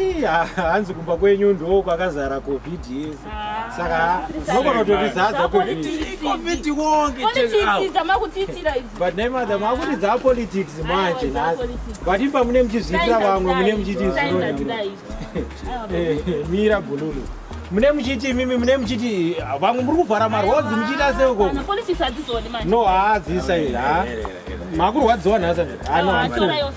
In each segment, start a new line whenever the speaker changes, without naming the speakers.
Ii, ha- hanzi kumba kwenyu ndo kwakazara covid yes saka zvinogona kutotizadza covid Covid
wonke check out. politics
makutiitira idzi but nai madha makuti
dza politics manje nhasi but imba mune muchizviitira vamwe mune muchiti zvinonyama Eh, mira bululu mune muchiti imimi mune muchiti ah, vamwe muri kuvhara marhodzi muchiita seuko politics hadzizoni
manje no haadzisa iri
ha makurwadziwa nhasi hano handitora yose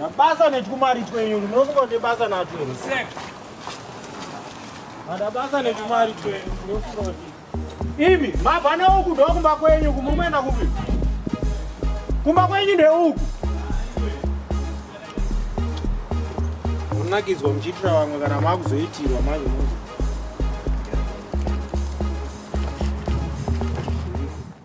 Nabasa netumari twenyu munofunga kuti basa natwo here?
Sek.
Madabasa netumari twenyu munofunga kuti imi mabva neuku ndokumba kwenyu kumwe muenda kupi? Kumba kwenyu ndeuku. Munakidzwa muchiitira vamwe kana makuzoitirwa manje manje.